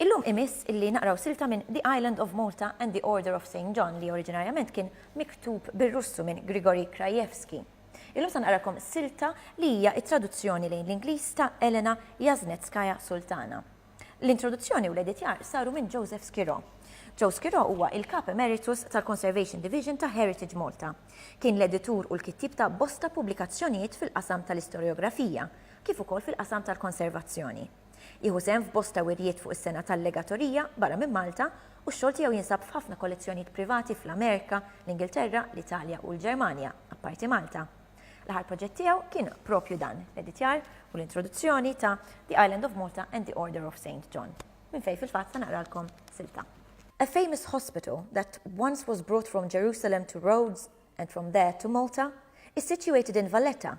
Illum imiss illi naqraw silta minn The Island of Malta and the Order of Saint John li oriġinarjament kien miktub bir-Russu minn Grigory Krajewski. Illum se naqralkom silta li hija t-traduzzjoni lejn l-Ingliż ta' Elena Jasnetskaya Sultana. L-introduzzjoni u l-editjar saru minn Joseph Skirò. Joe Skirò huwa il-Kap Emeritus tal-Conservation Division ta' Heritage Malta. Kien l-editur u l-kittieb ta' bosta pubblikazzjonijiet fil-qasam tal-istorjografija, kif ukoll fil-qasam tal-konservazzjoni. Jieħu sehem f'bosta wirjiet fuq is-sengħa tal-legatorija barra minn Malta u x-xogħol tiegħu jinsab f'ħafna kollezzjonijiet privati fl-Amerika, l-Ingilterra, l-Italja u l-Ġermanja, apparti Malta. L-aħħar proġett tiegħu kien proprju dan, l-editjar u l-introduzzjoni ta' The Island of Malta and the Order of Saint John, minn fejn fil-fatt se naqralkom silta. A famous hospital that once was brought from Jerusalem to Rhodes and from there to Malta is situated in Valletta,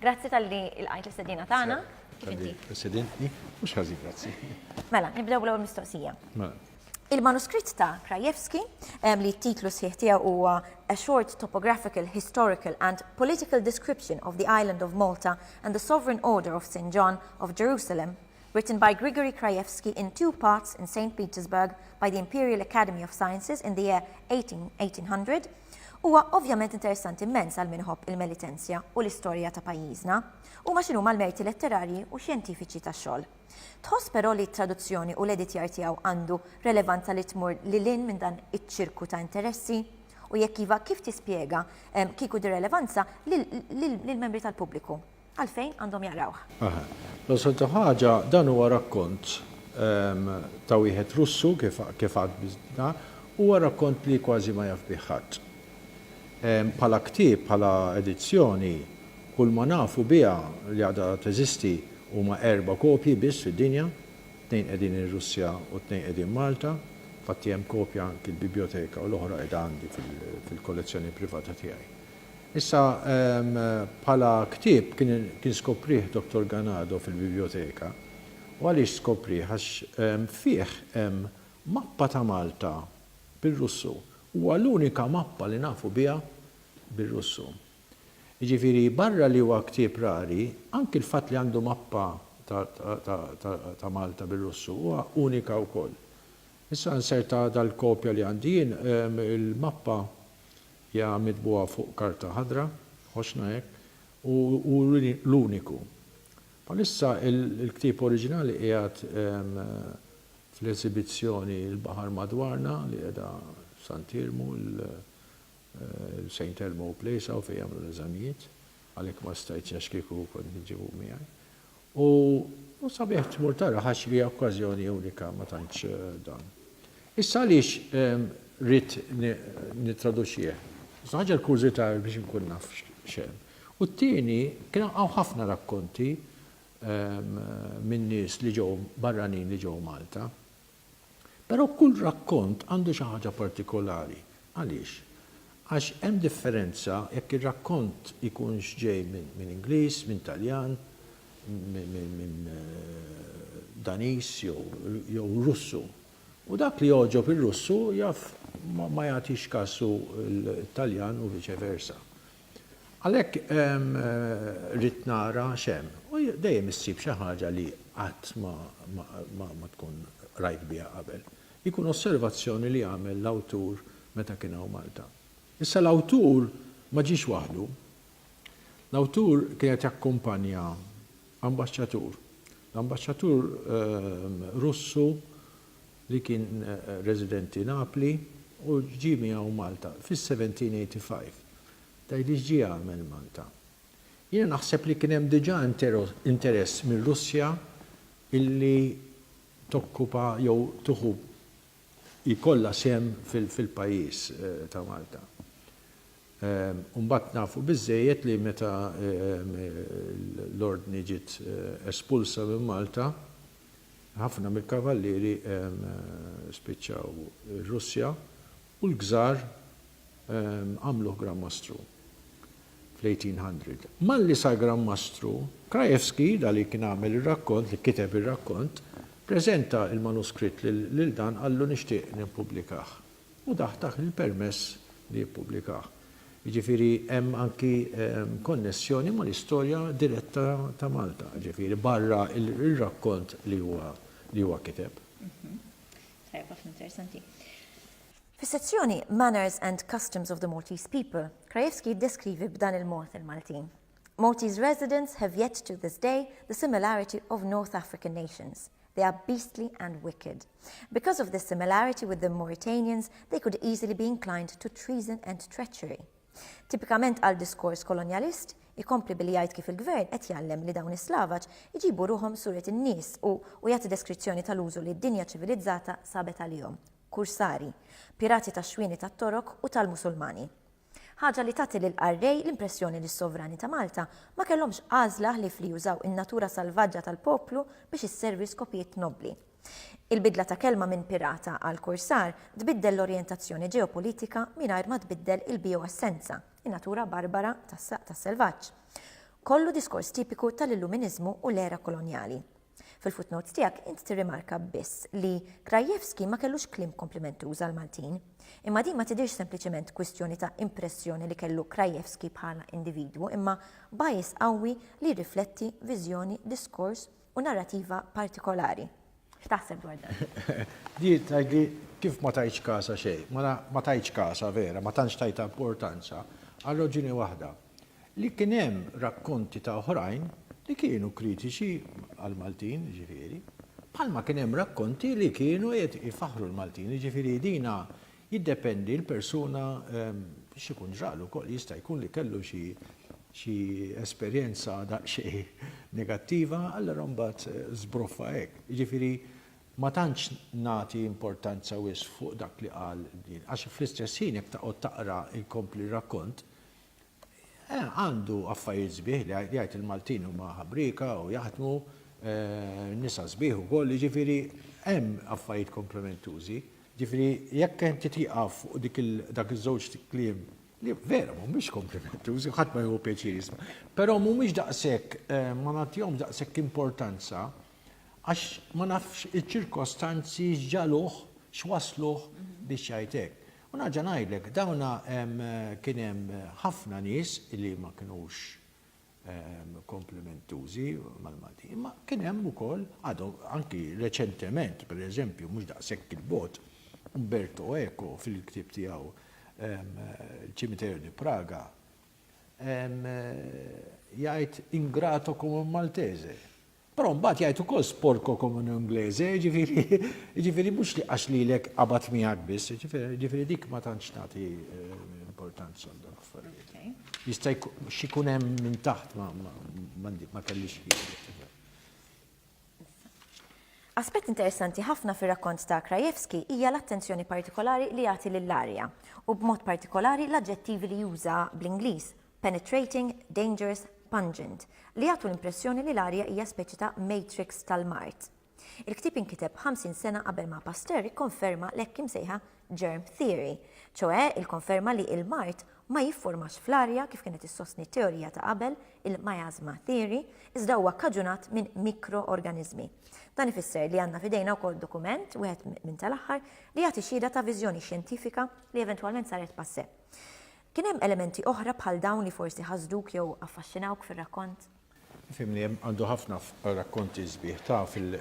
Grazzi tal-li il-qajt l-istedina tagħna. Kif inti? Presidenti, mhux ħażin, grazzi. Mela, nibdew l-ewwel mistoqsija. Mela. Il-manuskritt ta' Krajewski, li t-titlu sħiħ tiegħu huwa A Short Topographical, Historical and Political Description of the Island of Malta and the Sovereign Order of St. John of Jerusalem, Written by Grigory Krajewski in two parts in Saint Petersburg by the Imperial Academy of Sciences in the year 1800, Huwa ovvjament interessanti immens għal min iħobb il-melitenzja u l-istorja ta' pajjiżna. Huma x'inhuma l-merti letterarji u xjentifiċi tax-xogħol. Tħoss però li t-traduzzjoni u l-editjar tiegħu għandu relevanza li tmur lil hinn minn dan iċ-ċirku ta' interessi? U jekk iva, kif tispjega, kieku, dir-relevanza lill-membri tal-pubbliku? Għalfejn għandhom jaqrawh? Aha. L-soltu ħaġa, dan huwa rakkont ta' wieħed Russu, kif għad biżna, huwa rakkont li kważi ma jaf bih ħadd. Bħala ktieb, bħala edizzjoni, kull ma nafu biha li għadha teżisti huma erba' kopji biss fid-dinja, tnejn qegħdin ir-Russja u tnejn qegħdin Malta, infatti hemm kopja anki l-bibjoteka u l-oħra qiegħda għandi fil-kollezzjoni privata tiegħi. Issa, bħala ktieb kien skoprih Dottor Ganado fil-bibljoteka. U għaliex skoprih? Għax fih hemm mappa ta' Malta bir-Russu. Huwa l-unika mappa li nafu biha bir-Russu. Jiġifieri barra li huwa ktieb rari, anki l-fatt li għandu mappa ta' Malta bir-Russu huwa unika wkoll. Issa nserta dal-kopja li għandi jien, il-mappa Ja mitbugħa fuq karta ħadra, ħossna hekk, u hu l-uniku. Bħalissa l-ktieb oriġinali qiegħed fl-esibizzjoni Il-Baħar Madwarna li qiegħda f'Sant Iermu, il-Saint Elmo Place hawn fejn jagħmlu l-eżamijiet, għalhekk ma stajtx għax kieku kont niġġibu miegħi. U hu sabiħ tmur tara ghax hija okkażjoni unika ma tantx dan. Issa għaliex ridt nittraduċih? L-ewwel ħaġa l-kurżità biex inkun naf x'hemm. U t-tieni kien hawn ħafna rakkonti minn nies li ġew barranin li ġew Malta. Però kull rakkont għandu xi ħaġa partikolari. Għaliex? Għax hemm differenza jekk ir-rakkont ikunx ġej minn Ingliż, minn Taljan, minn Daniż jew Russu. U dak li jogħġob ir-Russu jaf ma jagħtix kasu l-Taljan u viċe versa. Għalhekk ridt nara x'hemm. U dejjem issib xi ħaġa li qatt ma tkun qrajt biha qabel. Jkun osservazzjoni li għamel l-awtur meta kien hawn Malta. Issa l-awtur ma ġiex waħdu. L-awtur kien qed jakkumpanja Ambaxxatur, L-ambaxxatur Russu li kien residenti Napli u ġie miegħu Malta fis-1785, tgħidli x'ġie jagħmel Malta. Jiena naħseb li kien hemm diġà interess mir-Russja illi tokkupa jew tieħu jkollha sehem fil-pajjiż ta' Malta. U mbagħad nafu biżżejjed li meta l-Ordni ġiet espulsa minn Malta, ħafna mill-Kavallieri spiċċaw ir-Russja u l-Kżar għamluh Gran Mastru fl-1800. Malli sar Gran Mastru, Krajewski, da li kien għamel ir-rakkont, li kiteb ir-rakkont, preżenta l-manuskritt lil dan qallu nixtieq nippubblikah. U dah tah il-permess li jippubblikah. Jiġifieri hemm anki konnessjoni mal-istorja diretta ta' Malta, jiġifieri barra r-rakkont li huwa kiteb. Tajjeb ħafna, interessanti. Fis-sezzjoni Manners and Customs of the Maltese People, Krajewski jiddeskrivi b'dan il-mod il-Maltin, Maltese residents have yet to this day the similarity of North African nations, they are beastly and wicked. Because of this similarity with the Mauritanians they could easily be inclined to treason and treachery. Tipikament għal diskors kolonjalist, ikompli billi jgħid kif il-gvern qed jgħallem li dawn is-Slavaġ iġibu ruħhom suret in-nies u u jagħti deskrizzjoni tal-użu li d-dinja ċivilizzata sabet għalihom. kursari, pirati tax-xwieni tat-Torok u tal-Musulmani. Ħaġa li tagħti lill-qarrej l-impressjoni li s-sovrani ta' Malta ma kellhomx għażla ħlief li jużaw in-natura salvaġġa tal-poplu biex isservi skopijiet nobbli. Il-bidla ta' kelma minn pirata għal kursar tbiddel l-orjentazzjoni ġeopolitika mingħajr ma tbiddel il-bijoessenza, in-natura barbara tas-selvaġġ. Kollu diskors tipiku tal-Illuminiżmu u l-era kolonjali. Fil-footnotes tiegħek int tirrimarka biss li Krajewski ma kellux kliem komplimentuż għall-Maltin. Imma din ma tidhirx sempliċement kwistjoni ta' impressjoni li kellu Krajewski bħala individwu imma bias qawwi li jirrifletti viżjoni, diskors u narrativa partikolari. X'taħseb dwar dan? Di tgħidli kif ma tajtx kasha xejn. Mela ma tajtx kasha vera, ma tantx tajtha importanza, għal raġuni waħda. li kien hemm rakkonti ta' oħrajn li kienu kritiċi għall-Maltin, jiġifieri, bħalma kien hemm rakkonti li kienu qed ifaħħru l-Maltin, jiġifieri dina jiddependi l-persuna x'ikun ġralu wkoll, jista' jkun li kellu xi xi esperjenza daqsxejn negattiva allura mbagħad żbruffa hekk. Jiġifieri ma tantx nagħti importanza wisq fuq dak li qal din għax fl-istess ħin jekk taqgħod taqra jkompli r-rakkont Għandu affarijiet sbieħ li jgħid il-Maltin huma ħabrieka u jaħdmu, nisa sbieħ ukoll, jiġifieri hemm affarijiet komplementużi. Jiġifieri jekk inti tieqaf fuq dik il dak iż-żewġ kliem li vera mhumiex komplementużi, ħadd ma jieħu pjaċir jisma', però mhumiex daqshekk ma nagħtihomx daqshekk importanza għax ma nafx iċ-ċirkostanzi x'ġagħluh, x'wassluh biex jgħid hekk. U nerġa' ngħidlek, dawn kien hemm ħafna nies li ma kinux komplimentużi mal-Maltin, imma kien hemm ukoll, għadhom, anki reċentement, per eżempju, mhux daqshekk 'il bogħod, Umberto Eco fil-ktieb tiegħu Il Cimitero di Praga jgħid ingrato come un maltese. Però mbagħad jgħid ukoll sporco come un inglese, jiġifieri jiġifieri mhux li għax lilek qabad miegħek biss, jiġifieri jiġifieri dik ma tantx tagħti importanza għal dawn l-affarijiet. Jista' x'ikun hemm minn taħt ma ma kellix Aspett interessanti ħafna fir-rakkont ta' Krajewski hija l-attenzjoni partikolari li jagħti lill-arja, u b'mod partikolari l-aġġettivi li juża bl-Ingliż, penetrating, dangerous, pungent, li jagħtu l-impressjoni li l-arja hija speċi ta' matrix tal-mard. Il-ktieb inkiteb 50 sena qabel ma Pasteur ikkonferma l-hekk imsejħa germ theory, ċoe il-konferma li il-mard ma jifformax fl-arja kif kienet issostni t-teorija ta' qabel, il-miasma theory, iżda huwa kkaġunat minn mikroorganiżmi. Dan ifisser li għandna f'idejna wkoll dokument, wieħed minn tal-aħħar, li jagħti xhieda ta' viżjoni xjentifika li eventwalment saret passe. Kien hemm elementi oħra bħal dawn li forsi ħasduk jew affaxxinawk fir-rakkont? Fimni, hemm, għandu ħafna rakkonti sbieħ ta' fil,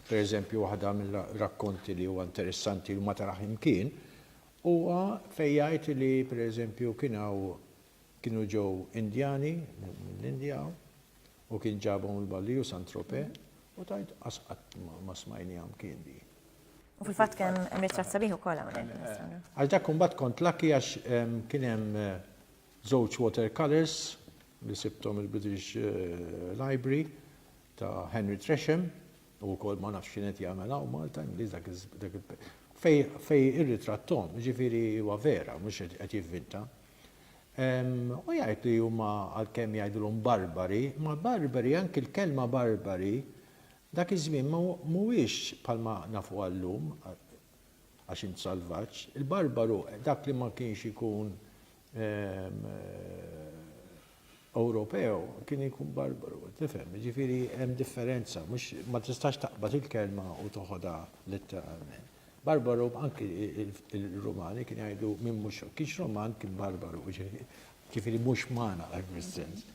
per eżempju waħda mir-rakkonti li huwa interessanti li ma taraħ imkien huwa fejn jgħid li per eżempju kien hawn kienu ġew Indjani mill-Indja u kien ġabhom il-Balliu Saint-Tropez u tgħid qas qatt ma smajniha mkien din. U fil-fatt kien hemm ritratt sabiħ ukoll hawnhekk. Għax dak imbagħad kont laki għax kien hemm żewġ watercolors li sibthom il-British Library ta' Henry Tresham u wkoll ma nafx x'kien qed jagħmel hawn Malta Ingliż dak fej irritratthom, ġifieri huwa vera mhux qed jivvinta. U jgħid li huma għalkemm jgħidulhom barbari, ma barbari anki l-kelma barbari Dak iż-żmien mhuwiex bħalma nafuha llum, għax int salvaġġ. Il-barbaru, dak li ma kienx ikun Ewropew, kien ikun barbaru, tifhem? Jiġifieri hemm differenza, mhux, ma tistax taqbad il-kelma u toħodha letteralment. Barbaru, anki il-Rumani kienu jgħidu min mhux, kienx Ruman kien barbaru, jiġifieri mhux umana, f'dan is-sens.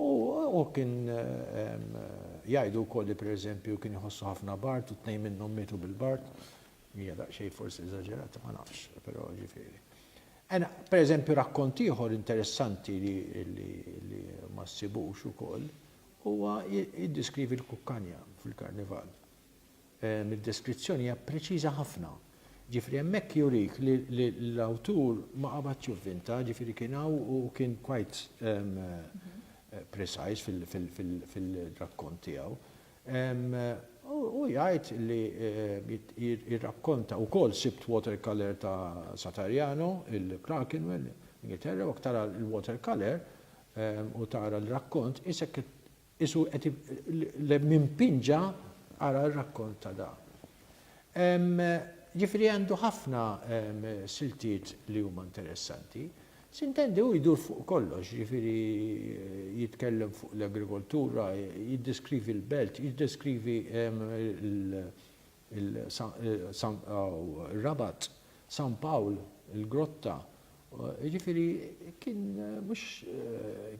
U hu kien jgħidu wkoll li pereżempju kien iħossu ħafna bard u tnejn minnhom mietu bil-bard. Hija daqsxejn forsi eżaġerata ma nafx, però ġifieri. Ena, pereżempju rakkont ieħor interessanti li li ma ssibux ukoll huwa jiddeskrivi l-kukkanja fil-karnival. mid-deskrizzjoni hija preċiża ħafna. Ġifieri hemmhekk jurik li l-awtur ma qabadx juvvinta, ġifieri kien hawn u kien quite precise fil-rakkont tiegħu. Hu jgħid li jirrakkonta wkoll sibt water colour ta' Satariano, il-Clerkenwell, Ingilterra, u jekk tara l-water colour u tara l-rakkont, qisek qed Qisu qed le minn pinġa ara r-rakkont ta' da. Ġifieri għandu ħafna siltiet li huma interessanti. S'intendi hu jdur fuq kollox, ġifieri jitkellem fuq l-agrikoltura, jiddeskrivi l-belt, jiddeskrivi l il-Rabat, San Pawl, il-Grotta, jiġifieri kien mhux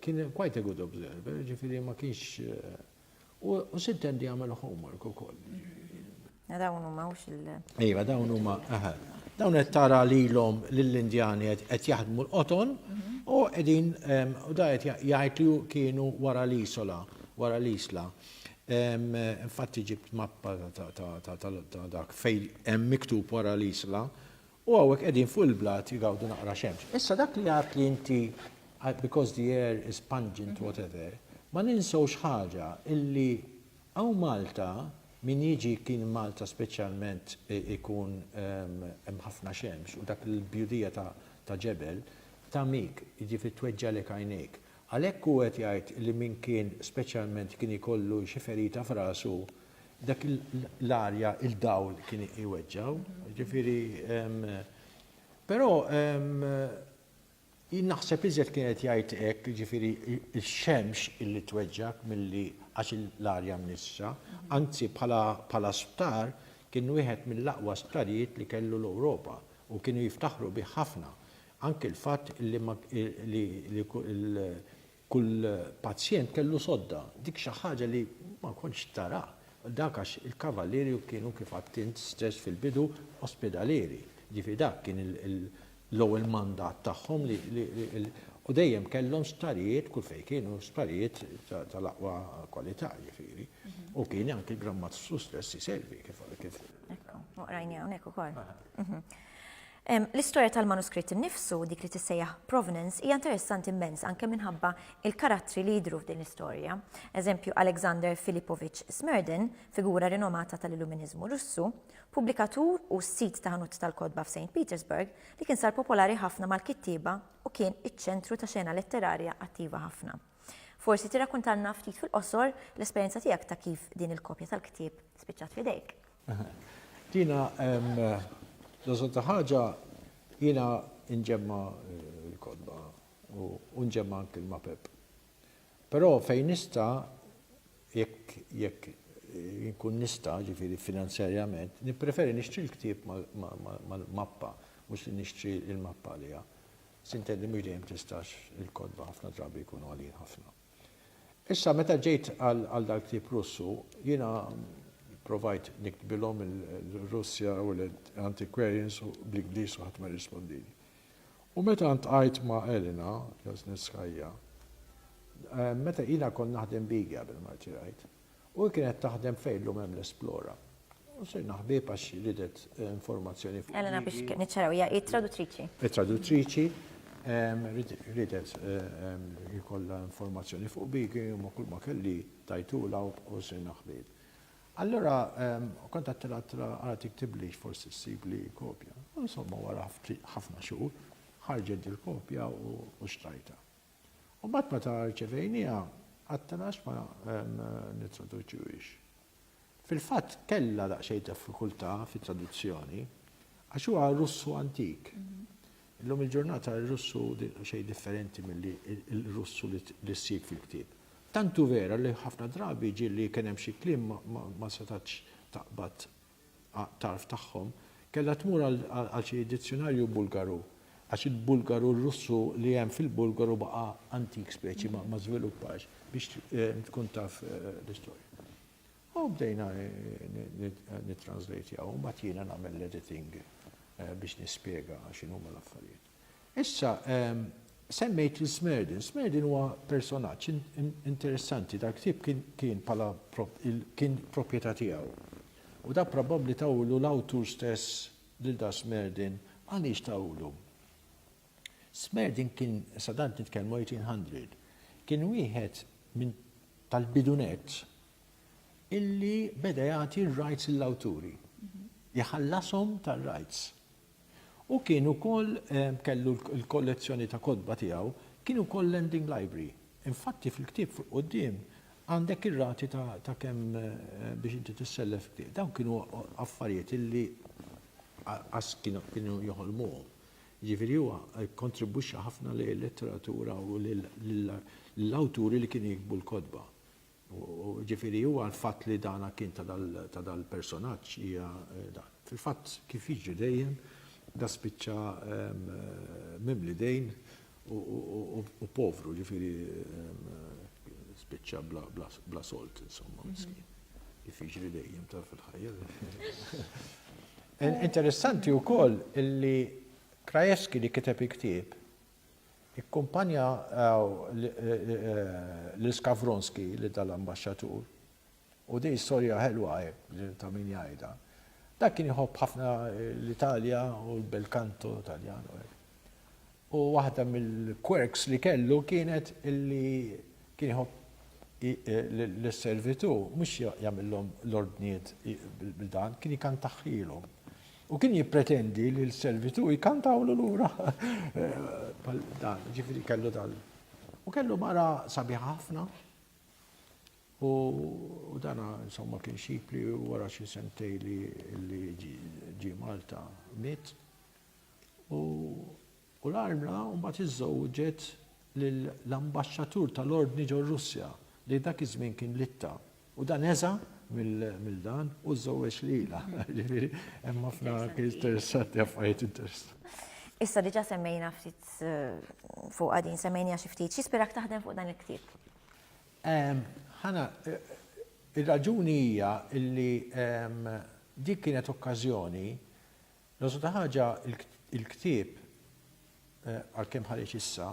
kien quite a good observer, jiġifieri ma kienx u sitt hemm li jagħmel homework ukoll. Dawn huma mhux il- Iva, dawn huma, eħe. Dawn qed tara lilhom lill-Indjani qed jaħdmu l-qoton u qegħdin u da qed jgħid li kienu wara l-isola, wara l-isla. Infatti ġibt mappa ta' dak fejn hemm miktub wara l-Isla u hawnhekk qegħdin fuq il-blat jgawdu naqra xemx. Issa dak li għadt li inti because the air is pungent whatever, ma ninsewx ħaġa illi hawn Malta min jiġi kien Malta speċjalment ikun hemm ħafna xemx u dak il-bjudija ta' ġebel tagħmik, jiġifieri tweġġagħlek għajnejk. Għalhekk hu qed jgħid li min kien speċjalment kien jkollu xi ferita f'rasu, dak l-arja, il-dawl kien iweġġgħu. Jiġifieri, però jien naħseb iżjed kien qed jgħid hekk, jiġifieri x-xemx illi tweġġgħek milli għax l-arja mnissra. Anzi bħala bħala sptar kien wieħed mill-aqwa sptarijiet li kellu l-Ewropa u kienu jiftaħru bih ħafna. Anki l-fatt li ma li li kull pazjent kellu sodda, dik xi ħaġa li ma kontx tara. Dak għax il-Kavalieri kienu kif għidt int stess fil-bidu ospedalieri. Jiġifieri dak kien l-ewwel mandat tagħhom li u dejjem kellhom sptarijiet kull fejn kienu sptarijiet tal-aqwa kwalità jiġifieri. U kien anki l-Gran Mastru stess iservi kif. Ekku, u qrajniha hawnhekk ukoll. L-istorja tal-manuskritt innifsu, dik li tissejjaħ provenance, hija interessanti immens anke minħabba l-karattri li jidhru f'din l-istorja. Eżempju, Alexander Filipovich Smerdin, figura rinomata tal-Illuminiżmu Russu, pubblikatur u sid ta' ħanut tal-kotba f'Saint Petersburg, li kien sar popolari ħafna mal-kittieba u kien iċ-ċentru ta' xena letterarja attiva ħafna. Forsi tirrakuntalna ftit fil-qosor l-esperjenza tiegħek ta' kif din il-kopja tal-ktieb spiċċat f'idejk. Tina, l-għażolta ħaġa jiena nġemma l-kotba u nġemma anki l-mapep. Però fejn nista' jekk jekk inkun nista' ġifieri finanzjarjament, nippreferi nixtri l-ktieb mal-mappa mhux li nixtri l-mappa għaliha. Sintendi mhux dejjem tistax, il-kotba ħafna drabi jkunu għalijin ħafna. Issa meta ġejt għal dal-ktieb Russu, jiena provajt niktbilhom il-Russja u l-Antiquarians bl-Ingliż u ħadd ma rrispondili. U meta ntqajt ma' Elena Jasnitskaya, meta ilha kont naħdem bigi qabel ma rtirajt, U hi kienet taħdem fejn llum hemm l-Esplora. U sirna ħbieb għax ridet informazzjoni fuq. Elena biex niċċaraw hija hi traduttriċi. Hi traduttriċi, ridet ikollha informazzjoni fuq Bigi u ma' kulma kelli tajtulha u sirna ħbieb. Allura kont għedtilha ara tiktiblix forsi ssibli kopja. U insomma wara ħafna xhur ħarġet dil-kopja u xtrajtha. U mbagħad meta rċevejnieha għadtna għax ma nittraduċuhiex. Fil-fatt kellha daqsxejn diffikultà fit-traduzzjoni għax huwa Russu antik. Illum il-ġurnata r-Russu xejn differenti milli l-Russu li ssib fil-ktieb. Tantu vera li ħafna drabi ġieli kien hemm xi kliem ma setax taqbad għat-tarf tagħhom, kellha tmur għal xi dizzjunarju Bulgaru, għax il-Bulgaru r-Russu li hemm fil-Bulgaru baqa' antik speċi ma żviluppax biex tkun taf l-istorja. U bdejna nittranżlejtjaw u mbagħad jiena nagħmel l-editing biex nispjega x'inhuma l-affarijiet. Issa, semmejt lil Smerdin. Smerdin huwa personaġġ interessanti. Dal-ktieb kien bħala kien proprjetà tiegħu. U dak probabbli tawlu l-awtur stess lil dan Smerdin. Għaliex tawlu? Smerdin kien, sa tant nitkellmu 1800, kien wieħed minn tal-bidu nett illi beda jagħti r-rights lill-awturi. Iħallashom tar-rights. Hu kien ukoll kellu l-kollezzjoni ta' kotba tiegħu kien ukoll lending library. Infatti fil-ktieb fuq quddiem għandek ir-rati ta' kemm biex inti tissellef f'ktieb. Dawn kienu affarijiet illi qas kienu joħolmuhom. Jiġifieri huwa kkontribwixxa ħafna lejn il-letteratura u lill-awturi li kienu jiktbu l-kotba. Jiġifieri huwa l-fatt li dan kien ta' dal-personaġġ hija dan. Fil-fatt kif jiġri dejjem, da spiċċa mimli dejn u povru, jiġifieri spiċċa bla sold insomma, miskin. Kif jiġri dejjem taf fil-ħajja. Interessanti wkoll illi Krajewski li kiteb il-ktieb Ikkumpanja lil Skavronski, lil dan l-ambaxxatur, u din storja ħelwa hekk ta' min jgħidha. Dan kien jħobb ħafna l-Italja u l-bel canto Taljan u hekk. U waħda mill-quirks li kellu kienet li kien jħobb lis-servitu mhux jagħmilhom l-ordnijiet bil-dan, kien jikantahhielhom. U kien jippretendi li l-servitu jkantawlu lura. Dan, ġifiri kellu dal. U kellu mara sabiħa ħafna. U dana, insomma, kien xipli u wara xi sentej li ġi Malta mit. U U l-armla mbagħad iżżewġet lill-ambaxxatur tal-Ordni ġor-Russja, li dak iż-żmien kien Litta, u dan eża' mill dan u żżewweġ lilha. Jiġifieri hemm ħafna interessanti, affarijiet interessanti. Issa diġà semmejna ftit fuqha din, semmejniha xi ftit. X'ispirak taħdem fuq dan il-ktieb? Ħana, ir-raġuni hija li dik kienet okkażjoni L-għożża ta' ħaġa, il-ktieb, għalkemm ħareġ issa,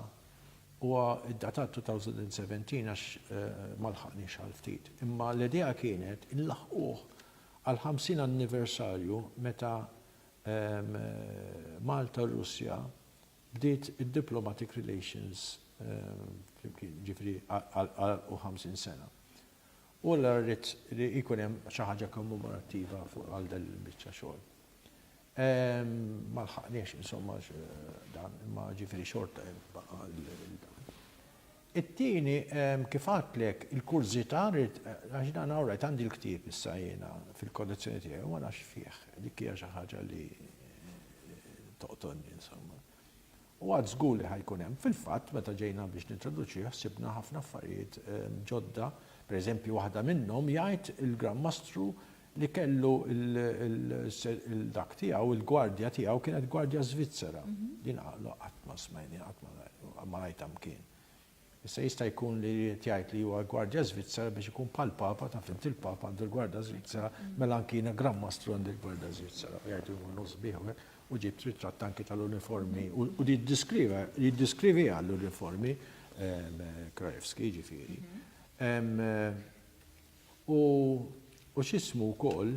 huwa ddatat 2017 għax ma lħaqniex għal ftit. Imma l-idea kienet inlaħħquh għall-50 anniversarju meta Malta u r-Russja bdiet id-diplomatic relations flimkien, jiġifieri għalqu 50 sena. U allura rrid li jkun hemm xi ħaġa kommemorattiva fuq għal dan il-biċċa xogħol. Ma lħaqniex insomma dan, imma ġifieri xorta hemm baqa' dan. It-tieni kif għadtlek il-kurżità rrid għax dan all right għandi l-ktieb issa jiena fil-kollezzjoni tiegħi u ma nafx fih. Dik hija xi ħaġa li toqtolni insomma. U għad żgur li ħa jkun hemm. Fil-fatt, meta ġejna biex nintroduċih ħsibna ħafna affarijiet ġodda, pereżempju waħda minnhom jgħid il-Gran Mastru li kellu l-dak tiegħu, il-gwardja tiegħu kienet gwardja Żvizzera. Jiena qatt ma smajni, qatt ma rajtha mkien. Issa jista' jkun li ried jgħid li huwa l-gwardja Żvizzera biex ikun bħal Papa, taf int il-Papa għandu l-gwarda Żvizzera, mela anki jiena Gran Mastru għandi l-gwarda Żvizzera u jgħidu jmur nofs bih u hekk u ġibt ritratt anki tal-uniformi u jiddeskriva jiddeskriviha l-uniformi Krajewski jiġifieri. U u x'ismu wkoll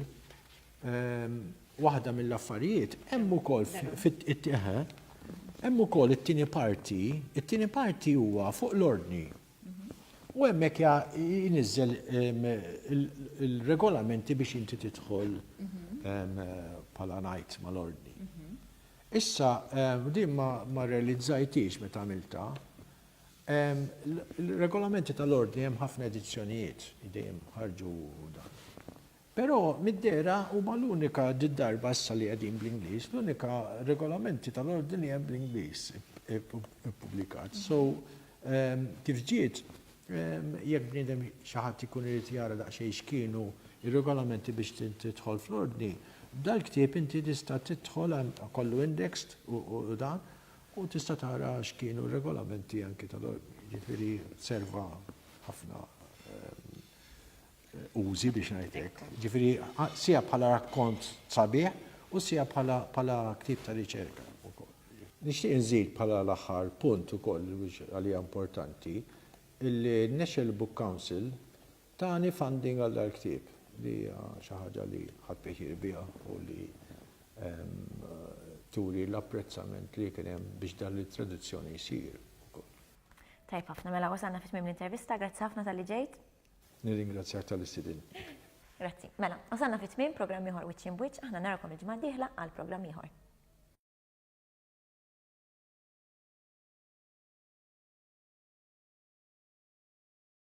ehm, waħda mill-affarijiet hemm ukoll fit hemm ukoll it-tieni parti, it-tieni parti huwa fuq l-ordni. U hemmhekk jinizzel ehm, il-regolamenti biex inti tidħol ehm, bħala ngħid mal-ordni. Issa, din ma realizzajtix meta għamilta, Il-regolamenti tal-Ordni hemm ħafna edizzjonijiet li dejjem ħarġu dan. Però mid-dera huma l-unika darba issa li qegħdin bl-Ingliż, l-unika regolamenti tal-Ordni li hemm bl-Ingliż ippubblikat. So kif ġiet, jekk bniedem xi ħadd ikun irid jara daqsxejn x'kienu ir-regolamenti biex tidħol fl-Ordni, dal-ktieb inti tista' tidħol kollu indexed u dan U tista' tara x'kienu r-regolamenti anki ta' jiġifieri serva ħafna użi biex ngħid hekk. Jiġifieri sija bħala rakkont sabiħ u sija bħala ktieb ta' riċerka wkoll. Nixtieq inżid bħala l-aħħar punt ukoll biex għalija importanti illi n-National Book Council Tani funding għal dar ktieb li hija xi ħaġa li ħadt pjaċir biha u li turi l-apprezzament li kien hemm biex dan it-traduzzjoni jsir ukoll. Tajjeb ħafna, mela wasalna fi tmiem l-intervista, grazzi ħafna talli ġejt. Nirringrazzjak talli stidintni. Grazzi. Mela, wasalna fi tmiem programm ieħor Wiċċ Imbwiċċ, aħna narakom il-ġimgħa d-dieħla għal programm ieħor.